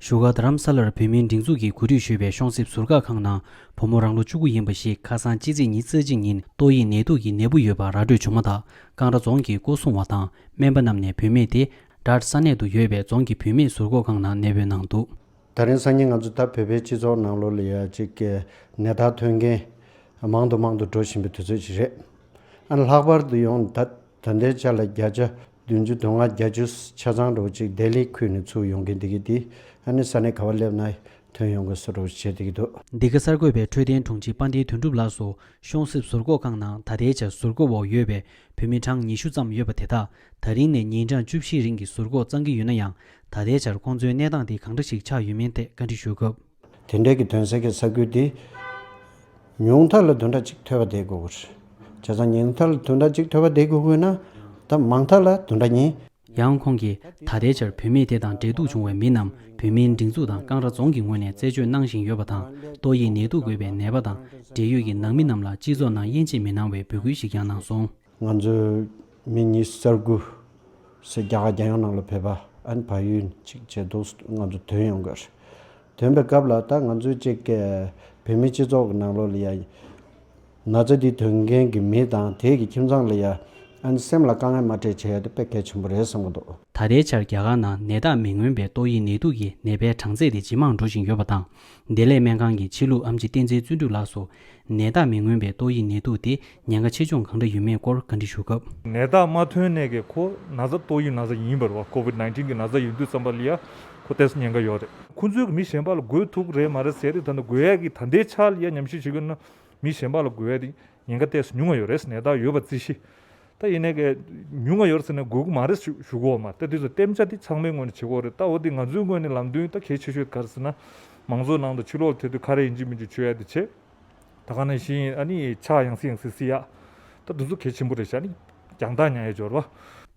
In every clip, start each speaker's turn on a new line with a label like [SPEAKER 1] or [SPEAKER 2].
[SPEAKER 1] བཞུགས་སྒར་རྡ་རམ་ས་ལར་བོད་མིའི་སྒྲིག་འཛུགས་ཀྱིས་གོ་སྒྲིག་ཞུས་པའི་གཤོང་གསེབ་ཟུར་བཀག་ཁང་ནང་བུ་མོ་རང་ལོ་བཅུ་དགུ་ཡིན་པ་ཞིག་ཁ་སང་ཕྱི་ཚེས་ཉིན་རྩ་གཅིག་ཉིན་ཏོག་དབྱིབས་ནད་དུག་གི་ནད་འབུ་ཡོད་པ་ར་སྤྲོད་བྱུང་མ་ཐག་ཀང་ར་རྫོང་གི་སྐོར་སྲུང་བ་དང་སྨན་པ་རྣམས་ནས་བུད་མེད་དེ་རྡ་ས་གནས་དུ་ཡོད་པའི་རྫོང་གི་བུད་མེད་ཟུར་འགོག་ཁང་ནང་གནས་སྤོས་གནང་འདུག། ད་རིང་སང་ཉིན་ང་
[SPEAKER 2] ཚོ་ད་བོད་པའི་སྤྱི་ཚོགས་ནང་ལོ་ལེ་ཡ་གཅིག་གི་ནད་རྟགས་ཐོན་མཁན་མང་དུ་མང་དུ་འགྲོ་བཞིན་པའི་དུས་ཚོད་ཅིག་རེད། ལྷག་པར་དུ་ཡང་ད། དོན་དེའི་ཆ་ལ་བརྒྱ་ཆ་བདུན་ཅུ་དོན་ལྔ་བརྒྱ་ཅུ་ཆ་ཚང་རོགས་གཅིག་བདེ་ལེགས་ཁུལ་ནས་ཚུར་ཡོང་གིན་འདི་གི་འདི་ཨ་ནི་ས་ནས་ག་བ་སླེབས་ན་དོན་ཡོང་གི་སུ་རོགས་བྱེད་འདི་གི་འདུག། འདི་ག་གསར་འགོད་པས་འཕྲོད་
[SPEAKER 1] བསྟེན་དྲུང་ཆེ་པ་འདིའི་དོན་གྲུབ་ལགས་སུ་གཤོང་གསེབ་ཟུར་འགོག་ཁང་ནང་ད་ལྟའི་ཆར་ཟུར་འགོག་འོག་ཡོད་པའི་བོད་མི་གྲངས་ཉི་ཤུ་ཙམ་ཡོད་པ་དེ་དག་ད་རིང་ནས་ཉིན་གྲངས་བཅུ་བཞིའི་རིང་གི་ཟུར་འགོག་གཙང་གི་ཡོད་ན་ཡང་ད་ལྟའི་ཆར་ཁོང་ཚོའི་གནས་སྟངས་དེ་གང་འདྲ་ཞིག་ཆགས་ཡོད་མིན་ཐད་བཀའ་འདྲི་ཞུས་སྐབས། དེ་འབྲེལ་གྱི་དོན་གསལ་
[SPEAKER 2] གྱི་ས་ཁུལ་དེ། ཉུང་མཐར་ལ་དུ་འདྲ་གཅིག་ཐོས་པ་བསྡད་དགོས་དགོས། བྱས་ཙང་ཉུང་མཐར་ལ་དུ་འདྲ་གཅིག་ཐོས་པ་བསྡད་དགོས་དགོས་ན། ད་མང་མཐར་ལ་དུ་འདྲ་གཉིས། ཡང་ཁོང་གིས་
[SPEAKER 1] ད་ལྟའི་ཆར་བུད་མེད་དེ་དང་འབྲེལ་གཏུག་བྱུང་བའི་མི་རྣམས་བོད་མིའི་སྒྲིག་འཛུགས་དང་ཀང་ར་རྫོང་གི་ངོས་ནས་རྩད་གཅོད་གནང་བཞིན་ཡོད་པ་དང་ཏོག་དབྱིབས་ནད་དུག་འགོས་པའི་ནད་པ་དང་འབྲེལ་ཡོད་ཀྱི་ནང་མི་རྣམས་ལ་སྤྱི་ཚོགས་ནང་དབྱེ་འབྱེད་མི་གནང་བའི་འབོད་སྐུལ་ཞིག་ཀྱང་གནང་སོང། ང་ཚོས་
[SPEAKER 2] མི་གཉིས་གསར་སྐུ་སེར་སྐྱ་རྒྱ་ཡོངས་ནང་ལ་ཕེབས་པ་ཨན་བྷ་ཡུལ་གཅིག་བྱེ་རྡོ་ང་ཚོ་དོན་ཡོང་གི་རེད། དོན་པའི་སྐབས་ལ་ད་ང་ཚོའི་ཅེ་ཀེ་བོད་མི་སྤྱི་ཚོགས་ཀྱི་ནང་ལོགས་ལ་ཡ། ན་ཚ་དེ་དོན་མཁན་གྱི་མི་དང་དེ་གྱི་ཁྱིམ་ཚང་ལ་ཡ། ཨན་སེམས་ལ་དཀའ་ངལ་མ་སྤྲད་བྱས་དེ་དཔེ་གལ་ཆེན་པོ་རེད་བསམ་གི་འདུག། ད་ལྟའི་ཆར་རྒྱ་གར་
[SPEAKER 1] ནང་ནད་རྟགས་མི་མངོན་པའི་ཏོག་དབྱིབས་ནད་དུག་གི་ནད་པའི་གྲངས་ཚད་དེ་ཇེ་མང་འགྲོ་བཞིན་ཡོད་པ་དང། བདེ་ལེགས་སྨན་ཁང་གི་ཕྱི་ལུགས་ཨམ་ཅི་བསྟན་འཛིན་བརྩོན་འགྲུས་ལགས་སུ། ནད་རྟགས་མི་མངོན་པའི་ཏོག་དབྱིབས་ནད་དུག་དེ་ཉེན་ཁ་ཆེ་ཆུང་གང་འདྲ་ཡོད་མེད་སྐོར་བཀའ་འདྲི་ཞུ་སྐབས། ནད་རྟགས་མ་ཐོན་ནས་
[SPEAKER 3] ཀྱི་ཁོ་ན་བཟའ་ཏོག་དབྱིབས་ན་བཟའ་ཡིན་པར་བ Covid nineteen གི་ན་བཟའ་ཡོད་དུས་ཙམ་པ་ལི་ཡ་ཁོ་ཏས་ཉེན་ཁ་ཡོད་རེད། ཁོ་ཚོས་མི་གཞན་པ་ལ་འགོས་ཐུག་རེད་མ་རེད་ཟེར་རེད་ད་ནི་འགོས་ཡས་ཀྱི་ད་ལྟའི་ཆ་ལི་ཡ་ཉམས་ཞིབ་བྱེད་དགོས་ན་མི་གཞན་པ་ལ་འགོས་ཡས་དེ་ཉེན་ཁ་གཏད་སོ་ཉུང་ང་ཡོད་རེད་ཟེར་ནས་ད་ཡོད་པ་རྩིས་ཤིག། ད་ཡིན་ནའི་ཀ། ཉུང་ང་ཡོད་ཟེར་ནས་དགོས་མཁོ་མ་རེད་ཟེར་ཞུ་གོ་མ་ད་དེ་ཚོ་གཏན་འཇགས་དེ་ཚང་མའི་ངོས་ནས་བྱེད་ཁོ་རེད་ད་འོ་དེ་ང་ཚོའི་ངོས་ནས་ལམ་སྟོན་ད་གལ་ཆེ་ཤོས་དེ་ག་རེད་ཟེར་ན། མང་ཚོགས་ནང་དུ་ཕྱི་ལོག་ལ་ཐེ་དུས་ཁ་རས་ཡིན་གཅིག་མིན་གཅིག་བྱོས་ཡ་དེ་བྱེད། ད་ག་ན་ཡིན་ཤི་ཡིན་ཨ་ནི་ཕྱག་ཡང་སྲིད་ཡང་སྲིད་སྲིད་ཡ། ད་འདི་ཚོ་གལ་ཆེན་པོ་རེད་ཤ་ནི། རྒྱང་ཐག་ཉག་ཡ་སྦྱོར་བ།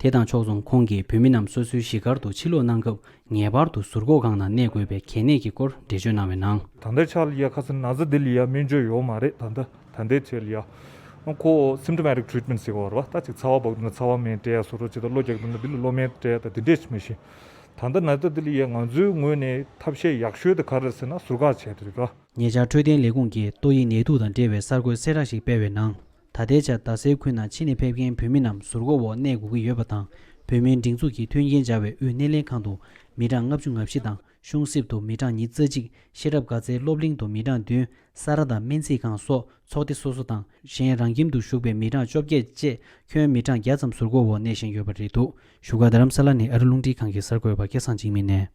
[SPEAKER 3] དེ་དང་ཕྱོགས་མཚུངས་
[SPEAKER 1] ཁོང་གིས་བོད་མི་རྣམས་སོ་སོའི་གཞིས་སྒར་དུ་ཕྱི་ལོག་གནང་སྐབས་ངེས་པར་དུ་ཟུར་འགོག་ཁང་ནང་གནས་དགོས་པའི་གལ་གནད་ཀྱི་སྐོར་འགྲེལ་བརྗོད་གནང་བའི་ནང། ད་ལྟའི་ཆར་ལི་ཡ་ཁ་
[SPEAKER 3] སི་ན་ཛ་དེ་ལི་ཡ་སྨན་བཅོས་ཡོག་མ་རེད་ད་ལྟ། ད་འདས་ཆེ་ལ་ཡ། ཁོ། Symptomatic Treatment ཟེར་བར་བ་ལྟ་ཅིག་ཚ་བ་བག་འདུག་ན་ཚ་བ་མེད་འདྲེ་ཡ་སོ་སོར་བྱེད་དང་གློ་རྒྱག་འདུག་ན་འདི་ལ་གློ་མེད་འདྲེ་ཡ་དང་དེ་འདྲས་ཀྱི་མི་ཤེས། ད་ལྟ་ན་ད་འདི་ལ་ཡའི་ང་ཚོའི་ངོས་ནས་ཐབས་ཤེས་ཡག་ཤོས་དེ་ག་རེད་ཟེར་ན་ཟུར་བཀག་བྱས་ཏེ་རེད། ཉེ་ཆར་འཕྲོད་བསྟེན་ལས་
[SPEAKER 1] ཁུངས་ཀྱིས་ཏོག་དབྱིབས་ནད་དུག་དང་འབྲེལ་བའི་གསར་འགོད་གསལ་བསྒྲགས་ཤིག་སྤེལ་བའི་ནང། ད་ལྟའི་ཆར་རྡ་སའི་ཁུལ་ནང་ཕྱི་ནས་ཕེབས་མཁན་བོད་མི་རྣམས་ཟུར་འགོག་འོག་གནས་དགོས་ཀྱི་ཡོད་པ་དང་བོད་མིའི་སྒྲིག་འཛུགས་ཀྱིས་མཐུན་རྐྱེན་སྦྱར་བའི་དབུས་སྣེ་ལེན་ཁང་དུ་མི་གྲངས་ལྔ་བཅུ་ང་བཞི་དང། གཞུང་གསེབ་ཏུ་མི་གྲངས་ཉིས་བརྩེགས་གཅིག་ཤེས་རབ་དགའ་ཚལ་སློབ་གླིང་དུ་མི་གྲངས་བདུན་ས་རཱ་དང་སྨན་རྩིས་ཁང་སོགས་ཚོགས་སྡེ་སོ་སོ་དང་གཞན་རང་ཁྱིམ་དུ་ཞུགས་པའི་མི་གྲངས་བཅོ་བརྒྱད་བཅས་ཁྱོན་མི་གྲངས་བརྒྱ་ཙམ་ཟུར་བཀོལ་འོག་གནས་བཞིན་ཡོད་པ་རེད་འདུག་བཞུགས་སྒར་རྡ་རམ་ས་ལ་ནི་ཨ་རི་རླུང་འཕྲིན་ཁང་གི་གསར་འགོད་པ་སྐལ་བཟང་འཇིགས་མེད་ནས།